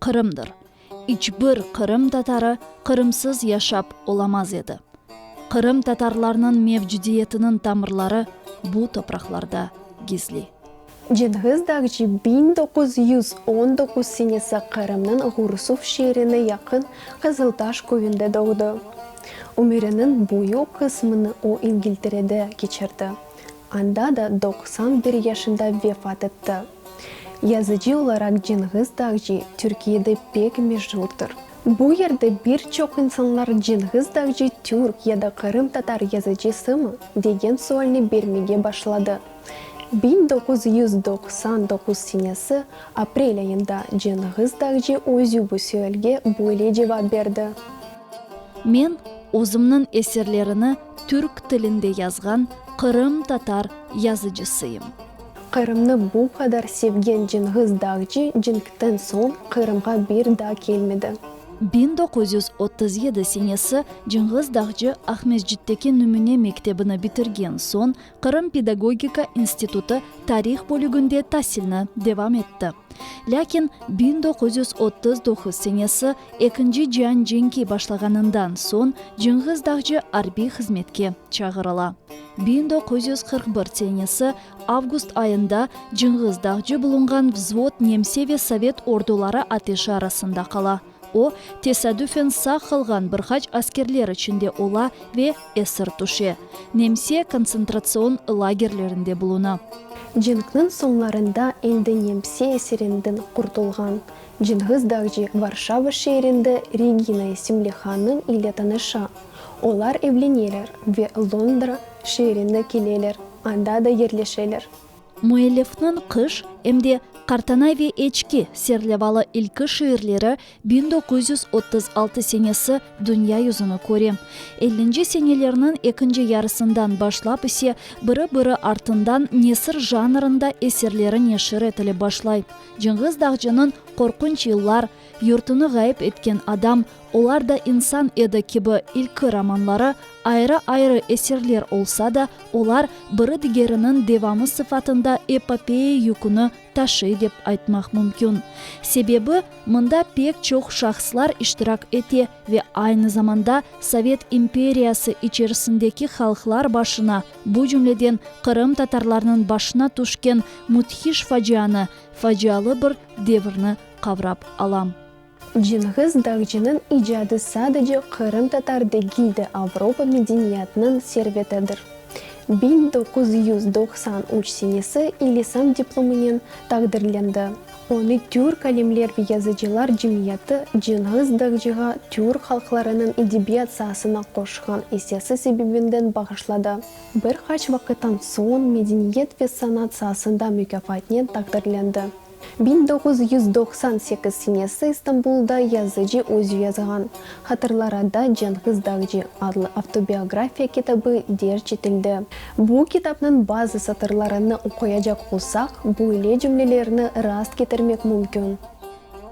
Qırımdır. İç bir Qırım tatarı Qırımsız yaşap olamaz edi. Qırım tatarlarnıñ mevcudiyetiniñ tamırları bu topraqlarda gizli. Cengiz Dağcı biñ doquz yüz on doquz senesi Qırımnıñ Ğurusuf şeerine yaqın Qızıltaş köyünde doğdı. Ömüriniñ büyük qısmını o İngilterede keçirdi, anda da doqsan bir yaşında vefat etti. Yazıcı olaraq Cenğiz Dağcı Türkiyede pek meşurdır. Bu yerde bir çoq insanlar Cenğiz Dağcı türk ya da qırımtatar yazıcısımı degen sualni bermege başladı. Biñ doquz yüz doqsan doquz senesi aprel ayında Cenğiz Dağcı özü bu sualge böyle cevap berdi. Men özümniñ eserlerini Türk tilinde yazğan Qırım tatar yazıcısıyım. Qırımnı bu qadar sevgen Cenğiz Dağcı cenkten soñ Qırımğa bir daa kelmedi. Biñ doquz yüz otuz yedi senesi Cenğiz Dağcı Aqmescitteki Nümüne mektebini bitirgen soñ Qırım pedagogika institutı tarih bölüginde tasilni devam etti. Lâkin biñ doquz yüz otuz doquz senesi Ekinci cian cenki başlağanından soñ Cenğiz Dağcı arbiy hızmetke çağırıla. Biñ doquz yüz qırq bir senesi avgust ayında Cenğiz Dağcı bulunğan vzvod nemse ve sovet orduları ateşi arasında qala. O, tesadüfen sağ qalğan bir qaç askerler içinde ola ve esir tüşe. Nemse kontsentratsion lagerlerinde buluna. Cenkniñ soñlarında endi Nemse esirinden qurtulğan Cenğiz Dağcı Varşava şeerinde Regina isimli hanım ile tanışa. Olar evleneler ve Londra şeerine keleler, anda da yerleşeler. Müellifniñ Qış em de Qartanay ve Eçki serlevalı ilki şiirleri biñ doquz yüz otuz altı senesi dünya yüzüni köre. Ellinci senelerniñ ekinci yarısından başlap ise biri-biri artından nesir janrında eserleri neşir etile başlay, Cenğiz Dağcınıñ Qorqunç yıllar, Yurtını ğayıp etken adam, Olar da insan edi kibi ilki romanları ayrı-ayrı eserler olsa da, olar biri-digeriniñ devamı sıfatında epopeya yüküni taşıy dep aytmaq mümkün. Sebebi, mında pek çoq şahıslar iştirak ete ve aynı zamanda sovet imperiyası içerisindeki halqlar başına, bu cümleden qırımtatarlarnıñ başına tüşken müthiş facianı, facialı bir devirni qavrap alam. Cenğiz Dağcınıñ icadı sadece qırımtatar degil de Avropa medeniyatınıñ servetidir. Biñ doquz yüz doqsan üç senesi İlisam diplomınen taqdirlendi. Onı Türk alimler ve yazıcılar cemiyeti Cenğiz Dağcığa Türk halqlarınıñ edebiyat saasına qoşqan essesi sebebinden bağışladı. Bir qaç vaqıttan soñ medeniyet ve sanat saasında mükâfatnen taqdirlendi. Biñ doğuz yüz doqsan sekiz senesi İstanbulda yazıcı özü yazğan Hatırlarada Cenğiz Dağcı adlı avtobiografiya kitabı derc etildi. Bu kitapnıñ bazı satırlarını oquyacaq olsaq, böyle cümlelerni rast ketirmek mümkün.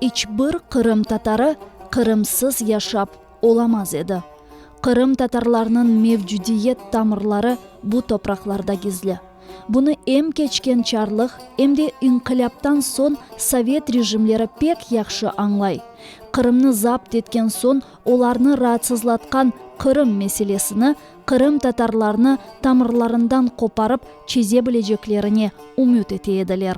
İç bir qırımtatarı qırımsız yaşap. Olamaz edi. Qırım tatarlarnıñ mevcudiyet tamırları bu topraqlarda gizli. Bunı em keçken çarlıq, em de inqilâptan soñ sovet rejimleri pek yahşı añlay. Qırımnı zapt etken soñ olarnı raatsızlatqan Qırım meselesini Qırım tatarlarnı tamırlarından qoparıp çeze bileceklerine ümüt ete ediler.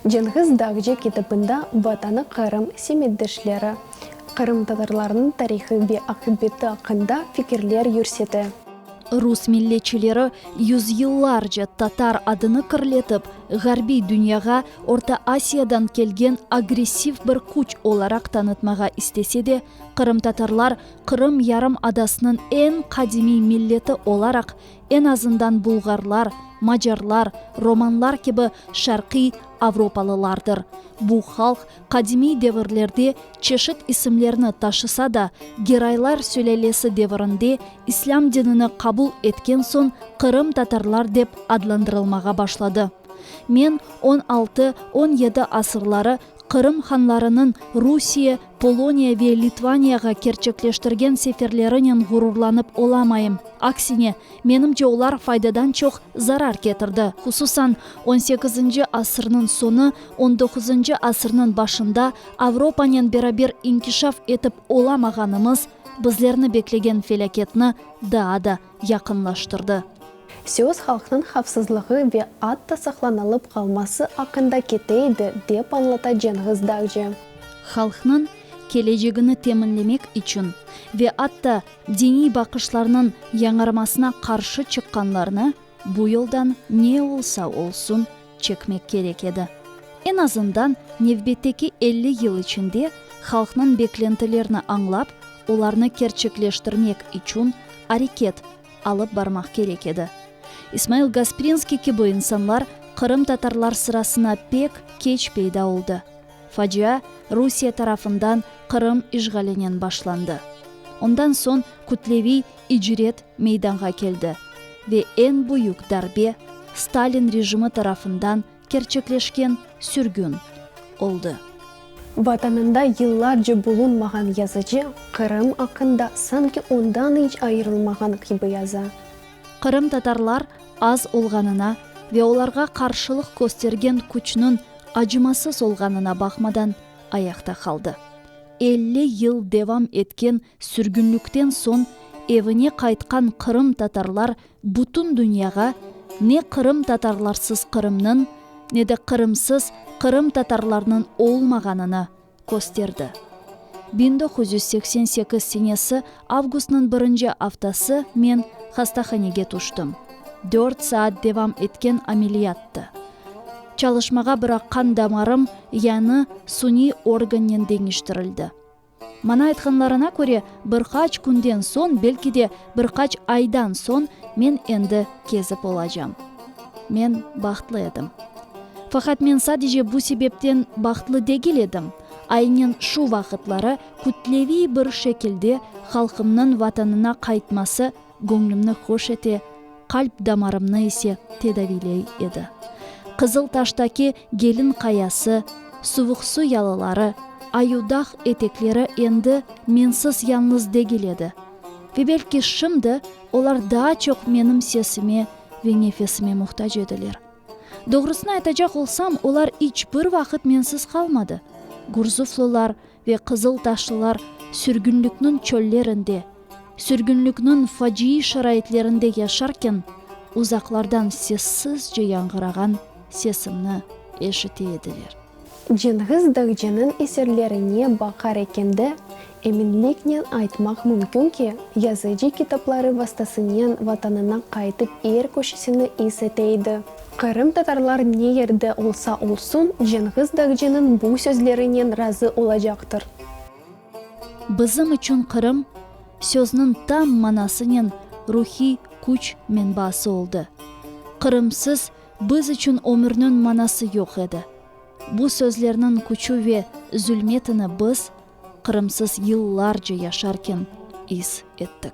Cenğiz Dağcı kitabında Vatanı Qırım, semetdeşleri, qırımtatarlarnıñ tarihı ve aqibeti aqqında fikirler yürsete. Rus milletçileri yüzyıllarca tatar adını kirletip, ğarbiy dünyağa Orta Asiyadan kelgen agressiv bir küç olaraq tanıtmağa istese de, qırımtatarlar Qırım yarımadasınıñ eñ qadimiy milleti olaraq En azından bulğarlar, macarlar, romanlar kibi şarqiy avropalılardır. Bu halq qadimiy devirlerde çeşit isimlerni taşısa da, Geraylar sülâlesi devirinde islâm dinini qabul etken soñ Qırım tatarlar dep adlandırılmağa başladı. Men on altı, on yedi asırları Qırım hanlarınıñ Rusiye, Poloniya ve Litvaniyağa kerçekleştirgen seferlerinen ğururlanıp olamayım. Aksine, menimce, olar faydadan çoq zarar ketirdi. Hususan, on sekizinci asırnıñ soñu, on doquzıncı asırnıñ başında Avropanen beraber inkişaf etip olamağanımız, bizlerni beklegen felâketni daa da yaqınlaştırdı. Söz halqnıñ havfsızlığı ve atta saqlanılıp qalması aqqında kete edi, dep añlata Cenğiz Dağcı. Halqnıñ kelecegini teminlemek içün ve atta diniy baqışlarnıñ yañarmasına qarşı çıqqanlarnı bu yoldan ne olsa olsun çekmek kerek edi. Eñ azından nevbetteki elli yıl içinde halqnıñ beklentilerini añlap, olarnı kerçekleştirmek içün areket alıp barmaq kerek edi. İsmail Gasprinskiy kibi insanlar qırımtatarlar sırasına pek keç peyda oldı. Facia Rusiye tarafından Qırım işğalinen başlandı. Ondan soñ kütleviy İcret meydanğa keldi ve eñ büyük darbe Stalin rejimi tarafından kerçekleşken sürgün oldı. Vatanında yıllarca bulunmağan yazıcı Qırım aqqında sanki ondan iç ayırılmağan kibi yaza. Qırımtatarlar az olğanına ve olarğa qarşılıq köstergen küçniñ acımasız olğanına baqmadan ayaqta qaldı. Elli yıl devam etken Sürgünlikten soñ evine qaytqan qırımtatarlar bütün dünyağa ne qırımtatarlarsız Qırımnıñ, ne de qırımsız qırımtatarlarnıñ olmağanını kösterdi. Biñ doquz yüz seksen sekiz senesi avgustnıñ birinci aftası men hastahanege tüştim. Dört saat devam etken ameliyattı. Çalışmağa bıraqqan damarım yañı suniy organnen deñiştirildi. Maña aytqanlarına köre, bir qaç künden soñ, belki de, bir qaç aydan soñ men endi kezip olacam. Men bahtlı edim. Faqat men sadece bu sebepten bahtlı degil edim, aynen şu vaqıtları kütleviy bir şekilde halqımnıñ Vatanına qaytması Göñlümni hoş ete, qalp damarımnı ise tedaviyley edi. Qızıl taştaki Gelin qayası, Suvuqsu yalıları, Ayudağ etekleri endi mensiz yalıñız degil edi. Ve belki şimdi olar daa çoq menim sesime ve nefesime muhtac ediler. Doğrusını aytacaq olsam, olar iç bir vaqıt mensiz qalmadı. Gurzuflılar, Ve qızıl taşlılar sürgünlikniñ çöllerinde, sürgünlikniñ faciiy şaraitlerinde yaşarken, uzaqlardan sessizce yañğırağan sesimni eşite ediler. Cenğiz Dağcınıñ eserlerine baqar eken de, eminliknen aytmaq mümkün ki, yazıcı kitapları vastasınen vatanına qaytıp er köşesini is ete edi. Qırımtatarlar ne yerde olsa olsun, Cenğiz Dagciniñ bu sözlerinen razı olacaqtır. Bizim içün Qırım, sözniñ tam manasınen ruhiy küç menbaası oldı. Qırımsız biz içün ömürniñ manası yoq edi. Bu sözlerniñ küçü ve zülmetini biz, Qırımsız yıllarca yaşarken is ettik.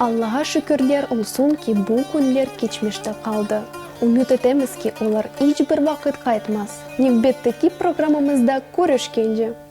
Allağa şükürler olsun ki, bu künler keçmişte qaldı. Ümüt etemiz ki, olar iç bir vaqıt qaytmaz. Nevbetteki programmamızda körüşkence!